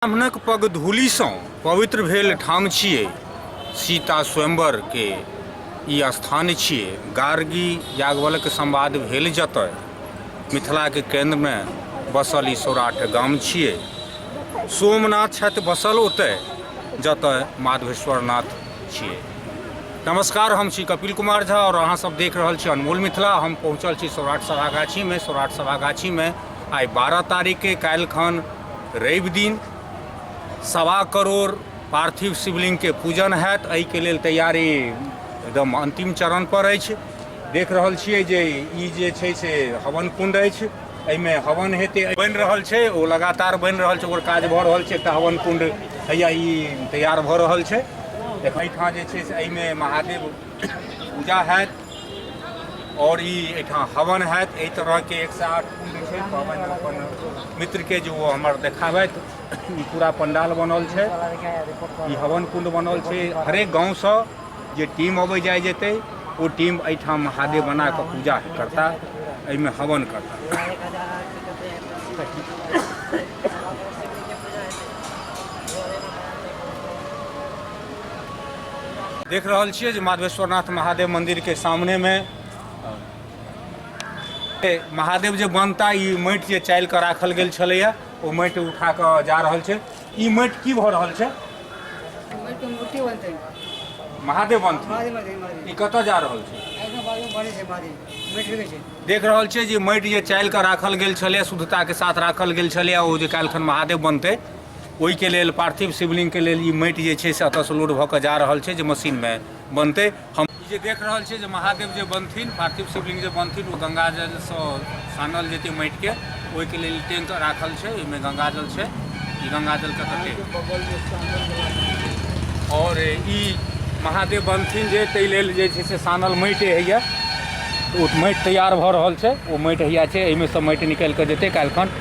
ब्राह्मणक पग धूलिसँ पवित्र भेल ठाम छियै सीता स्वयंवरके ई स्थान छियै गार्गी याज्ञवल्क संवाद भेल जतय मिथिलाके केन्द्रमे बसल ई सौराठ गाम छियै सोमनाथ छथि बसल ओतय जतय माधवेश्वरनाथ छियै नमस्कार हम छी कपिल कुमार झा आओर अहाँसभ देख रहल छी अनमोल मिथिला हम पहुँचल छी सौराठ सभागाछीमे सौराठ सभागाछीमे आइ बारह तारीखके काल्हिखन रवि दिन सवा करोड़ पार्थिव शिवलिङ्गके पूजन हैत एहिके लेल तैयारी एकदम अन्तिम चरणपर अछि देख रहल छियै जे ई जे छै से हवन कुण्ड अछि एहिमे हवन हेतै बनि रहल छै ओ लगातार बनि रहल छै ओकर काज भऽ रहल छै एकटा हवन कुण्ड हैया ई तैयार भऽ रहल छै एहिठाम जे छै से एहिमे महादेव पूजा हैत और ई एहिठाम हवन हैत एहि तरहके एक सए आठ कुंड छै पाबनि अपन मित्रके जे ओ हमर देखाबथि ई पूरा पंडाल बनल छै ई हवन कुंड बनल छै हरेक गाँवसँ जे टीम अबै जाइ जेतै ओ टीम एहिठाम महादेव बना कऽ पूजा करता एहिमे हवन करता देख रहल छियै जे माधवेश्वरनाथ महादेव मन्दिरके सामनेमे महादेव जे बनता ई माटि जे चालि कऽ राखल गेल छलैए ओ माटि उठा कऽ जा रहल छै ई माटि की भऽ रहल छै महादेव बनथिन ई कतऽ जा रहल छै देख रहल छियै जे माटि जे चालि कऽ राखल गेल छलै शुद्धताके साथ राखल गेल छलै ओ जे काल्हिखन महादेव बनतै ओहिके लेल पार्थिव शिवलिङ्गके लेल ई माटि जे छै से एतऽसँ लोड भऽ कऽ जा रहल छै जे मशीनमे बनतै हम ई जे देख रहल छियै जे महादेव जे बनथिन पार्थिव शिवलिङ्ग जे बनथिन ओ गङ्गाजलसँ सानल जेतै माटिके ओहिके लेल टैंक राखल छै ओहिमे गङ्गाजल छै ई गङ्गाजलके तते आओर ई महादेव बनथिन जे ताहि लेल जे छै से सानल माटि होइए ओ माटि तैयार भऽ रहल छै ओ माटि होइए छै एहिमे सँ माटि निकालि कऽ जेतै काल्हिखन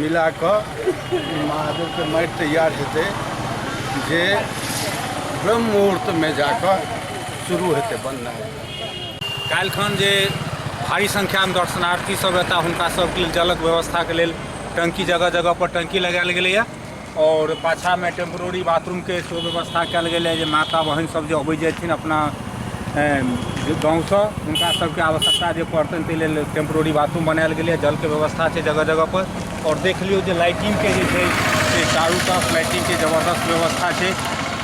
मिला कऽ महादेवके माटि तैयार हेतै जे ब्रह्म मुहूर्तमे जा कऽ शुरू हेतै बननाइ काल्हिखन जे भारी संख्यामे दर्शनार्थी सब एता हुनका सबके लेल जलक व्यवस्थाके लेल टंकी जगह जगह पर टंकी लगायल गेलैया आओर पाछाँमे टेम्प्रोरी बाथरूमके सेहो व्यवस्था कयल गेल अइ जे माता बहिन सब जे अबै जेथिन अपना गाँवसँ हुनका सबके आवश्यकता जे पड़तनि ताहि लेल टेम्प्रोरी बाथरूम बनायल गेल अइ जलके व्यवस्था छै जगह जगह पर आओर देख लियौ जे लाइटिंगके जे छै से चारू तरफ लाइटिंगके जबरदस्त व्यवस्था छै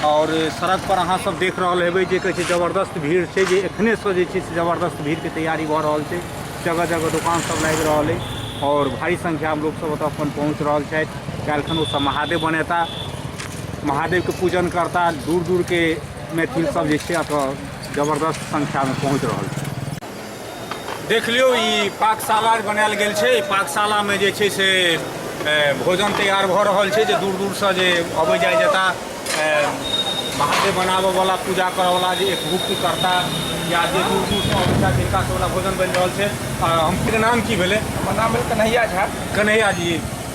आओर सड़क पर अहाँ सब देख रहल हेबै जे कहै छै जबरदस्त भीड़ छै जे एखनेसँ जे छै से जबरदस्त भीड़के तैयारी भऽ रहल छै जगह जगह दोकान सब लागि रहल अछि आओर भारी संख्यामे लोकसभ ओतऽ अपन पहुँच रहल छथि काल्हिखन ओसभ महादेव बनेता महादेवके पूजन करता दूर दूरके मैथिल सब जे छै एतऽ जबरदस्त संख्यामे पहुँच रहल छै देख लियौ ई पाकशाला बनायल गेल छै पाकशालामे जे छै से भोजन तैयार भऽ रहल छै जे दूर दूरसँ जे अबै जाइ जेता महादेव बनाबयवला पूजा करयवला जे एक मुक्तिकर्ता या जे दूर दूरसँ अबै छथि जिनका सभला भोजन बनि रहल छै आ हमके नाम की भेलै हमर नाम भेल कन्हैया झा कन्हैया जी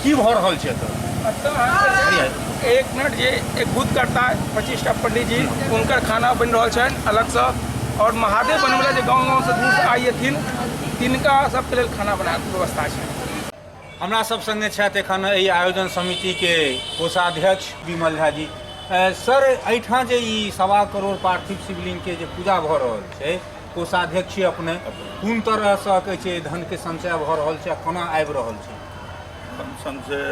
की भऽ रहल छै एतऽ एतऽ अहाँके जे एक मिनट जे एक बुद्ध करता पच्चीसटा पंडीजी हुनकर खाना बनि रहल छनि अलगसँ आओर महादेव बनबैला जे गाँव गाँवसँ दूरसँ आइएथिन तिनका सभके लेल खाना बनाके व्यवस्था छै हमरा सब संगे छथि एखन एहि आयोजन समिति के कोषाध्यक्ष विमल झा जी सर एहिठाम जे ई सवा करोड़ पार्थिव शिवलिंग के जे पूजा भऽ रहल छै कोषाध्यक्ष अपने कोन तरह से कहै छै धन के संचय भऽ रहल छै कोना आबि रहल छै धन संचय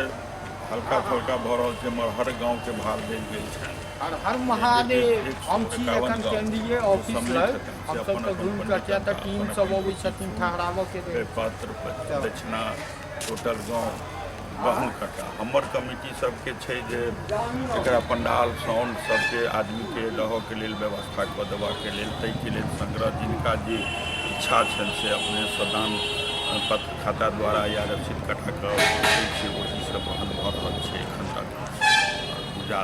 हल्का फल्का भऽ रहल छै मगर हर गाँव के भार देल गेल छै हर हर महादेव हम छी एखन केंद्रीय ऑफिस लग हम सब तऽ घूम कऽ किया तऽ टीम सब अबै छथिन ठहराबऽ के लेल पात्र दक्षिणा टोटल गाँव गहूँ कटा हमर कमिटी सबके छै जे एकरा पंडाल साउंड सबके आदमीके रहऽके लेल व्यवस्था कऽ देबाके लेल ताहिके लेल संग्रह जिनका जे इच्छा छनि से अपने सदान पत्र खाता द्वारा या रसीद कटा कऽ ओ चीज सब वहन भऽ रहल छै एखन तक पूजा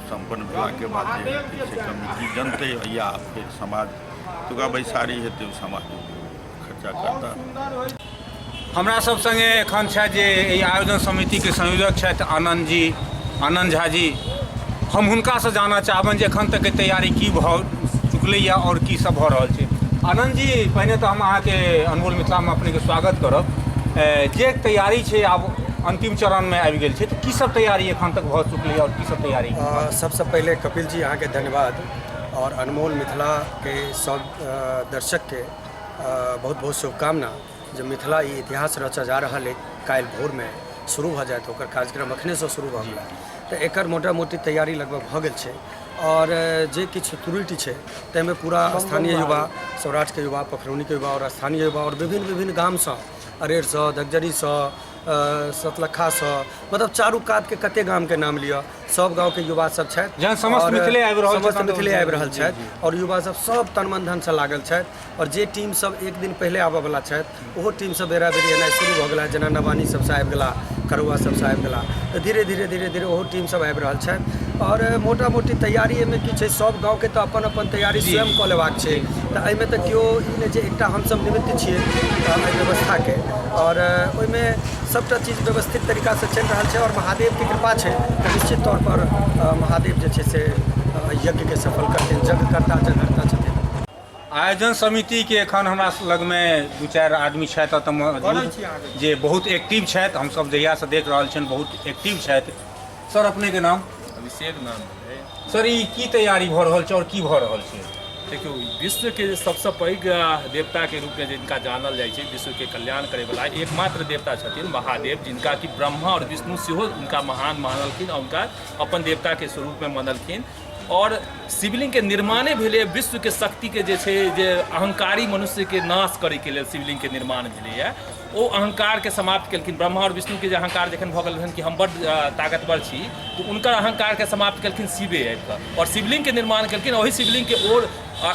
सम्पन्न भेलाके बाद जे हेतै से कमिटी जनतै या फेर समाज तुका बैसारी हेतै समाज खर्चा करता हमरा सब संगे एखन छथि जे एहि आयोजन समितिके संयोजक छथि आनन्द जी आनन्द झा जी हम हुनकासँ जानऽ चाहबनि जे एखन तकके तैयारी की भऽ चुकलैए आओर की सब भऽ रहल छै आनन्द जी पहिने तऽ हम अहाँके अनमोल मिथिलामे अपनेके स्वागत करब ए, जे तैयारी छै आब अन्तिम चरणमे आबि गेल छै तऽ की सब तैयारी एखन तक भऽ चुकल छलैए आओर की सब तैयारी अ, सबसँ पहिले कपिल जी अहाँके धन्यवाद और अनमोल मिथिला के सब अ, दर्शक के अ, बहुत बहुत शुभकामना जे मिथिला ई इतिहास रचा जा रहल है काल्हि भोर में शुरू भऽ जायत ओकर कार्यक्रम अखने से शुरू भऽ गेल तऽ एकर मोटा मोटी तैयारी लगभग भऽ गेल छै और अ, जे किछु त्रुटि छै ताहिमे पूरा स्थानीय युवा सौराठ के युवा पखरौनी के युवा और स्थानीय युवा और विभिन्न विभिन्न गाम सँ अरेर सँ धगजरी सँ सतलखासँ मतलब चारू कातके कते गामके नाम लिअ सब गाँवके युवा सब छथि जहन समस्त आओर मिथिले आबि रहल समस्त छथि, मिथिले आबि रहल जी, छथि आओर युवा सब सब तन मन धन से लागल छथि आओर जे टीम सब एक दिन पहिले आबऽ वाला छथि ओहो टीम सब बेरा बेरी एनाइ शुरू भऽ गेला जेना नवानी सब से आबि गेला करुआ सब से आबि गेला तऽ धीरे धीरे धीरे धीरे ओहो टीम सब आबि रहल छथि आओर मोटा मोटी तैयारी एहिमे की छै सब गाँवके तऽ अपन अपन तैयारी स्वयं कऽ लेबाक छै तऽ एहिमे तऽ केओ ई नहि जे एकटा हमसब निमित्त छियै अहाँ व्यवस्थाके आओर ओहिमे सभटा चीज व्यवस्थित तरीकासँ चलि रहल छै आओर महादेवके कृपा छै तऽ निश्चित तौर पर महादेव जे छै से यज्ञके सफल करथिन यज्ञकर्ता जगहर्ता छथिन आयोजन समितिके एखन हमरा लगमे दू चारि आदमी छथि एतऽ मौजूद जे बहुत एक्टिव छथि हमसभ जहियासँ देख रहल छियनि बहुत एक्टिव छथि सर अपनेके नाम अभिषेक नाम सर ई की तैयारी भऽ रहल छै आओर की भऽ रहल छै देखियौ विश्वके जे सभसँ पैघ देवताके रूपमे जिनका जानल जाइ छै विश्वके कल्याण करैवला एकमात्र देवता छथिन महादेव जिनका कि ब्रह्मा आओर विष्णु सेहो हुनका महान मानलखिन आओर हुनका अपन देवताके स्वरूपमे मानलखिन आओर शिवलिङ्गके निर्माणे भेलै विश्वके शक्तिके जे छै जे अहङ्कारी मनुष्यके नाश करैके लेल शिवलिङ्गके निर्माण भेलैए ओ अहंकारके समाप्त केलखिन ब्रह्मा आओर विष्णुके जे अहंकार जखन भऽ गेल रहनि कि हम बड्ड ताकतवर छी तऽ हुनकर अहंकारके समाप्त केलखिन शिवे आबि कऽ आओर शिवलिङ्गके निर्माण केलखिन ओहि शिवलिङ्गके ओ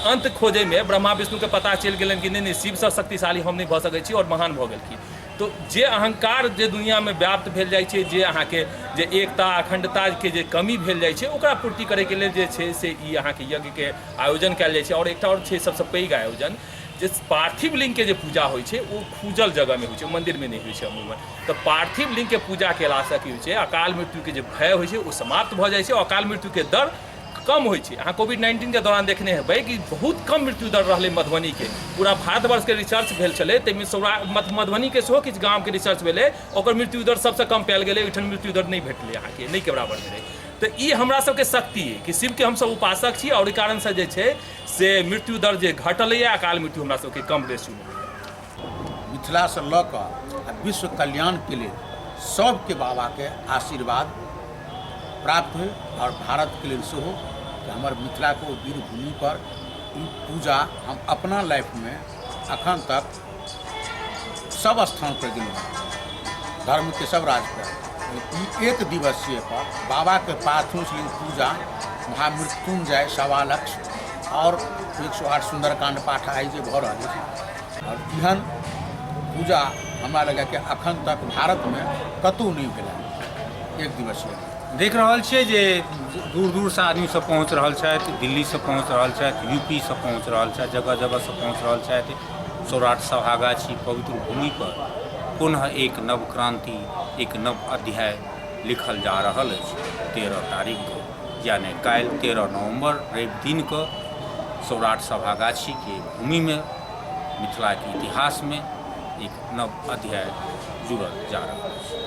अन्त खोजैमे ब्रह्मा विष्णुके पता चलि गेलनि कि नहि नहि शिवसँ शक्तिशाली हम नहि भऽ सकै छी आओर महान भऽ गेलखिन तऽ जे अहंकार जे दुनिआँमे व्याप्त भेल जाइ छै जे अहाँके जे एकता अखण्डताके जे कमी भेल जाइ छै ओकरा पूर्ति करैके लेल जे छै से ई अहाँके यज्ञके आयोजन कयल जाइ छै आओर एकटा आओर छै सबसँ पैघ आयोजन जे पार्थिव लिङ्गके जे पूजा होइ छै ओ खुजल जगहमे होइ छै मन्दिरमे नहि होइ छै अमूमन तऽ पार्थिव लिङ्गके पूजा कयलासँ की होइ छै अकाल मृत्युके जे भय होइ छै ओ समाप्त भऽ जाइ छै अकाल मृत्युके दर कम होइ छै अहाँ कोविड नाइन्टीनके दौरान देखने हेबै कि बहुत कम मृत्यु दर रहलै मधुबनीके पूरा भारतवर्षके रिसर्च भेल छलै ताहिमे सौरा मधुबनीके सेहो किछु गामके रिसर्च भेलै ओकर मृत्यु दर सबसँ कम पायल गेलै ओहिठाम मृत्यु दर नहि भेटलै अहाँके नहि के बराबर भेलै तऽ ई हमरा सबके शक्ति अइ कि शिवके हमसब उपासक छी आओर ओहि कारणसँ जे छै से मृत्यु दर जे घटलैए अकाल मृत्यु हमरा सबके कम रेशियो मिथिलासँ लऽ कऽ आ विश्व कल्याणके लेल सबके बाबाके आशीर्वाद प्राप्त होइ आओर भारतके लेल सेहो कि हमर मिथिलाके ओ वीर भूमिपर ई पूजा हम अपना लाइफमे अखन तक सब स्थान पर गेलहुँ हँ। धर्म के सब राज पर ई एक दिवसीय पर बाबा के पार्थिव शिव पूजा महामृत्युंजय सवा लक्ष और एक सौ आठ सुंदरकांड पाठ आइ जे भऽ रहल अछि और एहन पूजा हमरा लगैए कि अखन तक भारत में कतहु नहि भेल हँ। एक दिवसीय देख रहल छियै जे दूर दूर से आदमी सब पहुँच रहल छथि दिल्ली से पहुँच रहल छथि यूपी से पहुँच रहल छथि जगह जगह से पहुँच रहल छथि सौराठ सभागाछी पवित्र भूमि पर पुनः एक नव क्रांति एक नव अध्याय लिखल जा रहल अछि तेरह तारीख को यानी काल्हि तेरह नवंबर रवि दिन को सौराठ सभागाछी के भूमि में मिथिला के इतिहास में एक नव अध्याय जुड़ल जा रहल अछि